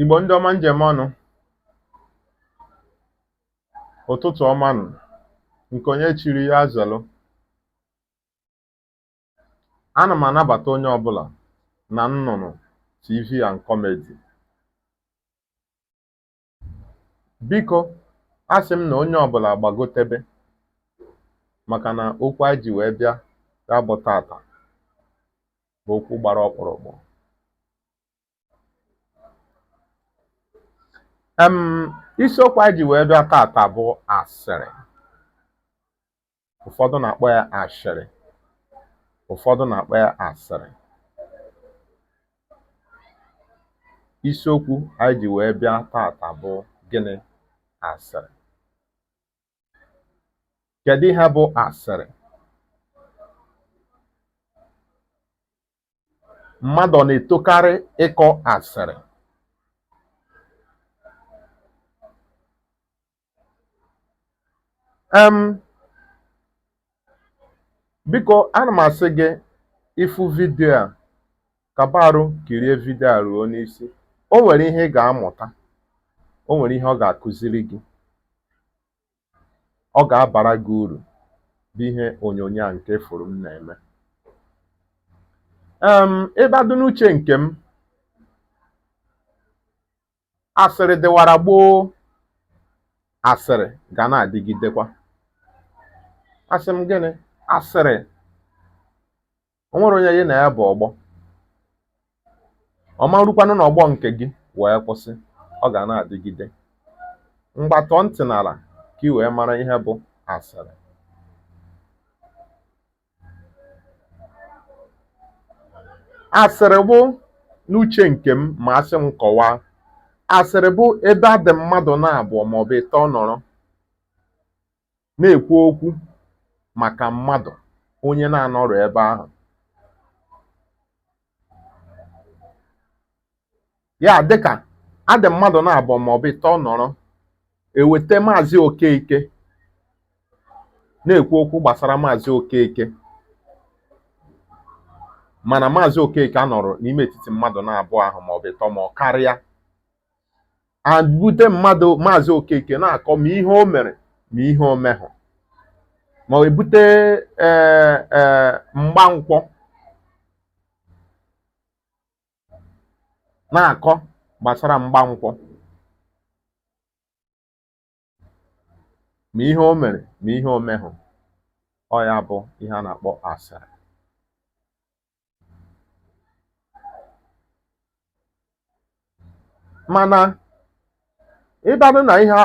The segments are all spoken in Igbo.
Igbo ndị ọma m ji eme ọnụ ụtụtụ ọma nụ nke onye chiri ya zelu ana m anabata onye ọbụla na nnụnụ TV and Comedy Biko a sị m na onye ọbụla gbagotebe maka na okwu anyị ji wee bịa ya bụ tata bụ okwu gbara ọkpụrụkpụ. Em isiokwu anyị ji wee bịa tata bụ asịrị. ụfọdụ na-akpọ ya ashịrị ụfọdụ na-akpọ ya asịrị isiokwu anyị ji wee bịa tata bụ gịnị asịrị kedu ihe bụ asịrị mmadụ na-etokarị ịkọ asịrị em Biko ana m asị gị ị fụ vidio a kaba arụ kirie vidio a ruo n'isi o nwere ihe ị ga-amụta o nwere ihe ọ ga-akụziri gị ọ ga-abara gị uru bụ ihe onyonyo a nke ị fụrụ m na-eme em ịbadụ n'uche nke m Asịrị dịwara gboo, asịrị ga na-adịgidekwa. Asị m gịnị? Asịrị. O nwerọ onye ya na ya bụ ọgbọ. Ọ ma rukwanụ n'ọgbọ nke gị wee kwụsị, ọ ga na-adịgide. Ngwa tọọ ntị n'ala ka i wee mara ihe bụ asịrị. Asịrị bụ n'uche nke m ma a sị m kọwaa, asịrị bụ ebe a dị mmadụ naabọ maọbụ ịtọ nọrọ na-ekwu okwu maka mmadụ onye na-anọrọ ebe ahụ. ya dịkà a dị mmadụ̀ na-abụọ màọ̀bụ̀ ịtọ nọ̀rọ è wète maazị Okeke na-èkwu okwu gbàsara maazị Okeke mànà maazị Okeke anọ̀rọ̀ n'ime ètitì mmadụ̀ na-abụọ ahụ̀ màọ̀bụ̀ ịtọ ma ọ karịa à bute mmadụ̀ maazị Okeke na-àkọ ma ihe o mèrè ma ihe o mehụ ma ọ e bute ee ee Mgbankwọ na-akọ gbasara mgbankwọ ma ihe o mere ma ihe o mehụ ọ ya bụ ihe a na-akpọ asịrị mana ịbadụ na ihe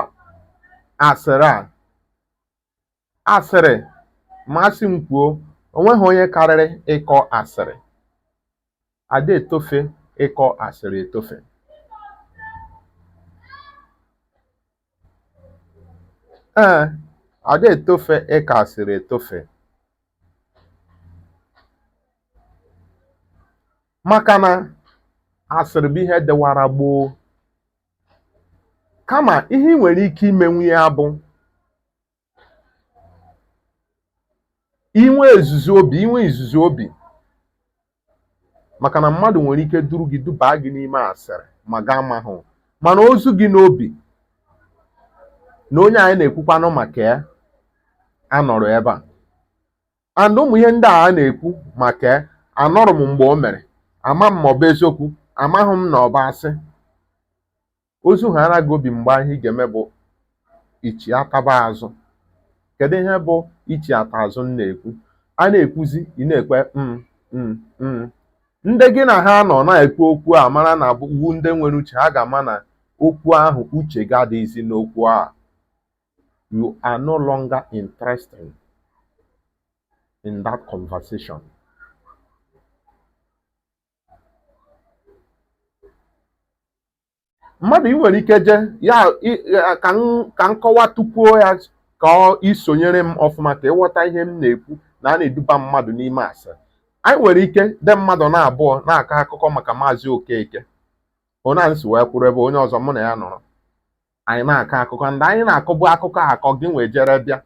asịrị a asịrị ma a sị m kwuo o nweghị onye karịrị ịkọ asịrị ada etofe ịkọ asịrị etofe ee ada etofe ịkọ asịrị etofe maka na asịrị bụ ihe dịwara gboo Kama ihe i nwere ike imenwu ya bụ inwe ezuzu obi inwe izuzu obi maka na mmadụ nwere ike duru gị dubaa gị n'ime asịrị ma gị amaghị mana o zu gị n'obi na onye anyị na-ekwukwanụ maka ya anọrọ ebe a and ụmụ ihe ndị a na-ekwu maka anọrọ m mgbe o mere ama m ma ọ bụ eziokwu amaghị m na ọ bụ asị o zu ha ara gị obi mgbe ahụ ihe ị ga-eme bụ ichi ataba azụ kedu ihe bụ ichi ata azụ m na-ekwu a na-ekwuzi ị na-ekwe mm, mm, mm. ndị gị na ha nọ na-ekwu okwu a mara na ọ wụ ndị nwere uche ha ga-ama na okwu ahụ uche gị adịghịzi n'okwu a you are no longer interested in that conversation. mmadụ ị nwere ike je ya ka m kọwatụkwuo ya ka ị sonyere m ọfụma ka ị ghọta ihe m na-ekwu na a na-eduba mmadụ n'ime asịrị anyị nwere ike dị mmadụ na abụọ na-akọ akụkọ maka maazị okeke onye anyị si wee kwụrụ ebe onye ọzọ mụ na ya nọrọ anyị na-akọ akụkọ ndị anyị na-akọbu akụkọ akọ gị nwa ejere bịa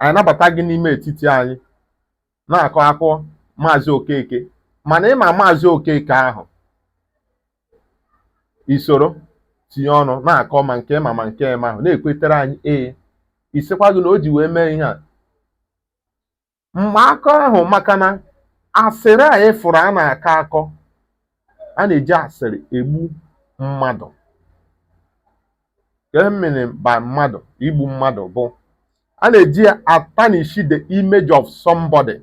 anyị nabata gị n'ime etiti anyị na-akọ akọ maazị okeke mana ị ma maazị okeke ahụ i soro tinye ọnụ na-akọ ma nke ị ma ma nke ị mahụ na-ekwetere anyị ee ị sịkwa gịnị o ji wee mee ihe a mgbe akọ ahụ maka na asịrị a ị fụrụ a na-akọ akọ a na-eji asịrị egbu mmadụ ka emere by mmadụ igbu mmadụ bụ a na-eji ya atarnish the image of somebody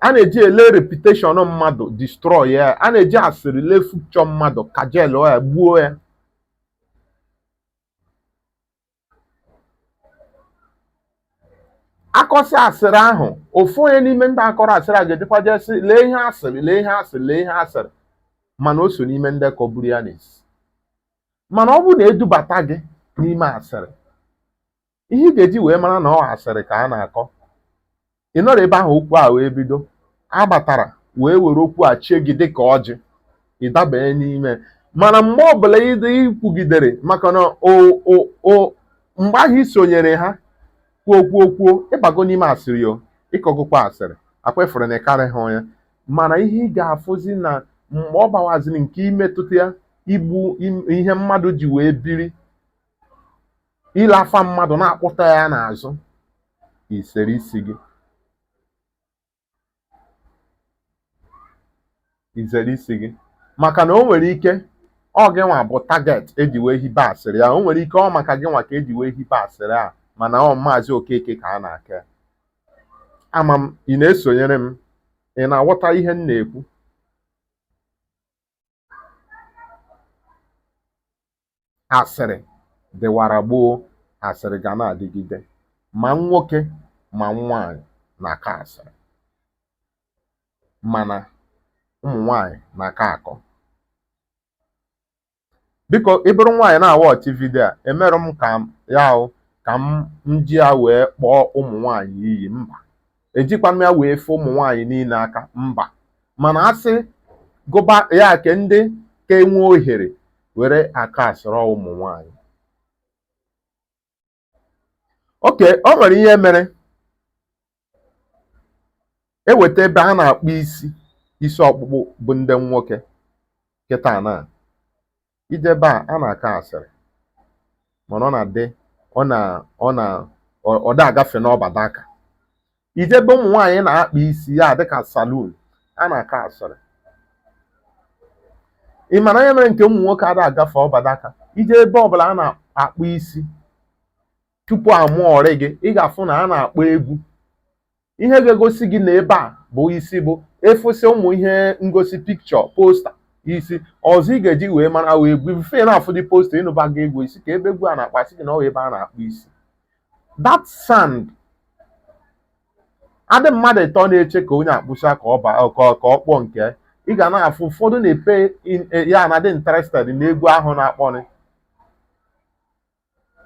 a na-eji ele reputation mmadụ destroy ya a na-eji asịrị le future mmadụ cancel ya gbuo ya akọsị asịrị ahụ ofu onye n'ime ndị akọrọ asịrị a ga-ejekwa jee sị lee ihe a sịrị lee ihe a sịrị lee ihe a sịrị mana o so n'ime ndị kọburu ya n'isi mana ọ bụrụ na e dubata gị n'ime asịrị ihe ị ga-eji wee mara na ọ asịrị ka a na-akọ ị nọrọ ebe ahụ okwu a wee bido a batara wee were okwu a chee gị dịka ọjị ị dabanye n'ime mana mgbe ọbụla ịdị ikwugidere maka na mgbe ahụ i sonyere ha kwuo kwuo kwuo ị bago n'ime asịrị o ị kọgokwa asịrị akwefere na ịkarị ha onye mana ihe ị ga-afụzi na mgbe ọ bawaziri nke imetụta ya igbu ihe mmadụ ji wee biri ile afa mmadụ na-ekwutọ ya n'azụ izere isi gị izere isi gị maka na o nwere ike ọ gị nwa bụ target eji wee hibe asịrị a o nwere ike ọ maka gị nwa ka eji wee hibe asịrị a mana ọ maazị okeke ka a na-akọ ama m ị na-esonyere m ị na-aghọta ihe m na-ekwu asịrị dịwara gboo, asịrị ga na-adịgide. Ma nwoke ma nwaanyị na-akọ asịrị mana ụmụ nwaanyị na-aka akọ. Biko ị bụrụ nwaanyị na-awatch video a, emerọ m ka ya ahụ ka m ji ya wee kpọọ ụmụ nwaanyị iyi mba. ejikwa m ya wee fee ụmụ nwaanyị niile aka mba mana a sị gụba ya ke ndị ka enwe ohere were akọ asịrị ọ ụmụ nwaanyị okay o nwere ihe mere eweta ebe a na-akpụ isi isi ọkpụkpụ bụ ndị nwoke kịta na ije ebe a a na-akọ asịrị mana ọ na-adị ọ na ọ na ọ da agafe n'ọba dịka ije ebe ụmụ nwaanyị na-akpa isi ya dịka salon a na-akọ asịrị ị mara ihe mere nke ụmụ nwoke ada agafe ọba dịka ije ebe ọbụla a na-akpụ isi tupu amụọrị gị ị ga-afụ na a na-akpọ egwu ihe ga-egosi gị na ebe a bụ isi bụ ịfụsị ụmụ ihe ngosi picture poster ihe ọzọ ị ga-eji wee mara wụ egwu ife na-afụ dị poster ị nụba gị egwu isi ka ebe egwu a na-akpọ sị gị na ọ ebe a na-akpụ isi that sound adị mmadụ ịtọ na-eche ka onye a kpụcha ka ọ ba ka ọ kpụọ nke ị ga na-afụ ụfọdụ na-epe e, ya na dị interested n'egwu ahụ na-akpọrị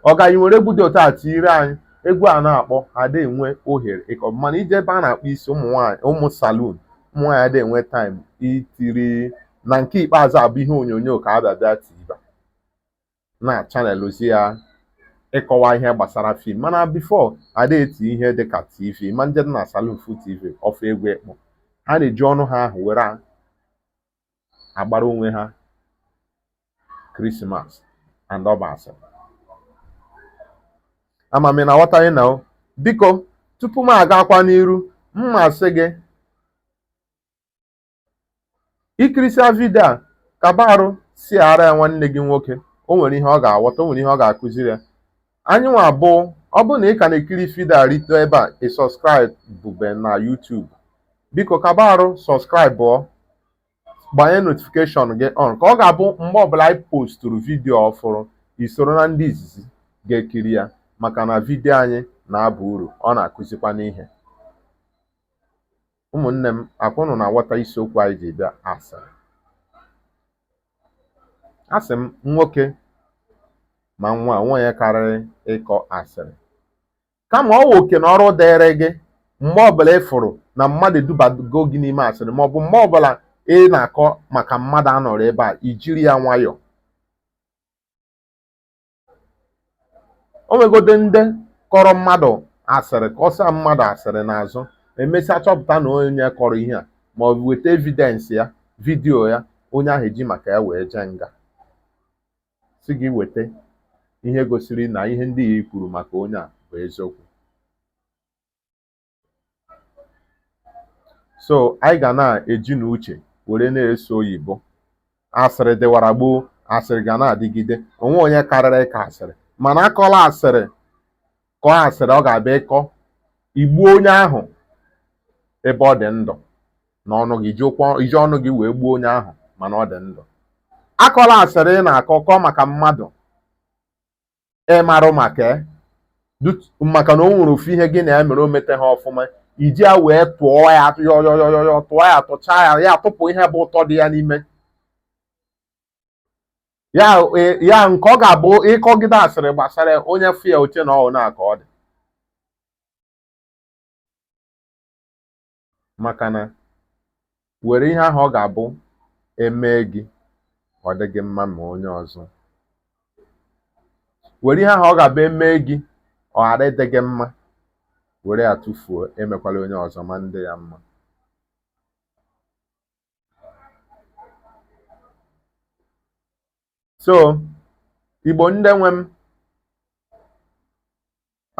ọ gaghị were egwu dị otu a tinyere anyị egwu a na-akpọ ada enwe ohere ịkọ mana ije ebe a na-akpa isi ụmụ nwaanyị ụmụ salun ụmụ nwaanyị ada enwe taịm itiri na nke ikpeazụ abụ ihe onyonyo ka a bịa tiba na chanel ozi ya ịkọwa ihe gbasara fim mana bifo ada eti ihe dịka tv ma ị je na salun fu tv ọfụ egwu ekpo ha na-eji ọnụ ha ahụ were agbara onwe ha krismas and ọ bụ asị ama m na aghọtaghị na o biko tupu m agakwa n'iru m masị gị ikirisịa vidio a kaba arụ shiara ya nwanne gị nwoke o nwere ihe ọ ga-aghọta o nwere ihe ọ ga-akụziri ya anyị nwa bụ ọ bụrụ na ị ka na-ekiri fida rite ebe a ị sọskraịbube na YouTube biko kaba arụ sọskraịbụọ gbanye notifikeshọn gị on ka ọ ga-abụ mgbe ọbụla anyị postụrụ vidiyo ọfụrụ isoro na ndị izizi ga-ekiri ya maka na vidiyo anyị na-aba uru ọ na-akụzikwanụ ihe Ụmụnne m, akwa ụnụ na-aghọta isiokwu anyị ji bịa asịrị. Asị m nwoke ma nwaanyị onwe onye karịrị ịkọ asịrị. Kama ọ wụ oke na ọrụ dịịrị gị mgbe ọbụla ị fụrụ na mmadụ edubago gị n'ime asịrị maọbụ mgbe ọbụla ị na-akọ maka mmadụ anọrọ ebe a ijiri ya nwayọọ o nwegodị ndị kọrọ mmadụ asịrị kọsịa mmadụ asịrị n'azụ emesịa chọpụta na onye kọrọ ihe a ma ọ bụ weta evidensị ya vidiyo ya onye ahụ eji maka ya wee jee nga sị gị weta ihe gosiri na ihe ndị a i kwuru maka onye a bụ eziokwu so anyị ga na-ejinụ uche were na-eso oyibo asịrị dịwara gboo asịrị ga na-adịgide onwe onye karịrị ịkọ asịrị mana akọla asịrị kọọ asịrị ọ ga-abụ ịkọ igbuo onye ahụ ebe ọ dị ndụ na ọnụ gị iji ọnụ gị wee gbuo onye ahụ mana ọ dị ndụ akọla asịrị ị na-akọ kọọ maka mmadụ ịmarọ maka ya maka na o nwere ofu ihe gị na ya mere o metaha ọfụma iji ya wee tụọ ya yọyọyọyọ tụọ ya tụchaa ya ya tụpụ ihe bụ ụtọ dị ya n'ime ya e, ya nke ọ ga-abụ ịkọgide asịrị gbasara onye fụ ya oche na ọhụụ na-aka ọ dị maka na were ihe ahụ ọ ga-abụ emee gị ọ dị gị mma mee onye ọzọ were ihe ahụ ọ ga-abụ emee gị ọ ghara ịdị gị mma were ya tụfuo emekwala onye ọzọ ma ndị ya mma so igbo ndị nwe m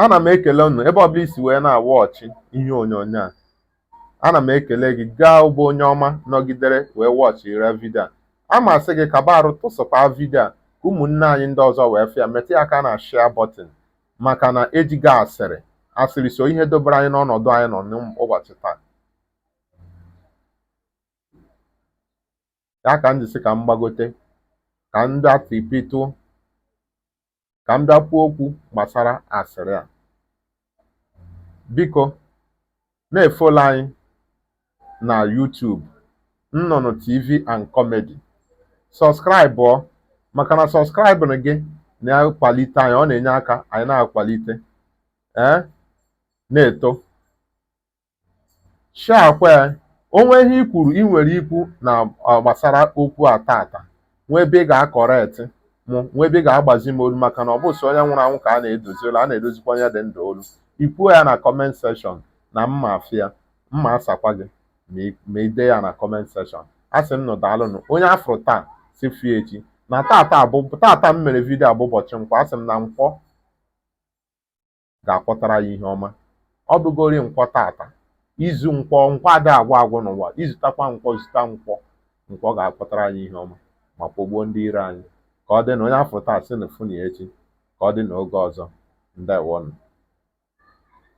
ana m ekele unu ebe ọbụla i si wee na-awọchị ihe onyonyo a ana m ekele gị gịwa bụ onye ọma nọgidere wee wọchịra vidio a amasị gị kaba arụ tụsakwaa vidio a ka ụmụnne anyị ndị ọzọ wee fụ ya metụ ya aka na shia bọtịn maka na ejighị asịrị asịrị so ihe dobere anyị n'ọnọdụ anyị nọ n'ụbọchị taa ya ka m ji sị ka m gbagote ka m bịa tipitụ ka m bịa kwuo okwu gbasara asịrị a biko na-efolo anyị na YouTube Nnụnụ TV and Comedy sọskraịbụ maka na sọskraịbụ gị na-akwalite anyị ọ na-enye aka anyị na-akwalite ee na-eto Shiakwaa, o nwee ihe i kwuru i nwere ikwu na ọ gbasara okwu a tata nwee ebe ị ga-akọreti mụ nwee ebe ị ga-agbazi m olu maka na ọ bụ sọ onye nwụrụ anwụ ka a na-edozi olu a na-edozikwa onye dị ndụ olu i kwuo ya na kọment sekshọn na m ma-afụ ya m ma-asakwa gị ma i- ma i dee ya na kọment sekshọn asị m nụ daalụnụ onye a fụrụ taa sị fụ ya echi na tata bụ tata m mere vidio a bụ ụbọchị nkwọ asị m na nkwọ ga-akwọtara anyị ihe ọma ọ bụgori nkwọ tata izu nkwọ nkwọ ada agwụ agwụ n'ụwa i zutakwa nkwọ zuta nkwọ nkwọ ga-akwọtara anyị ihe ọma ma kwọgbuo ndị iro anyị ka ọ dị na onye a fụ taa sị na fụnụ echi ka ọ dị na oge ọzọ ndewonụ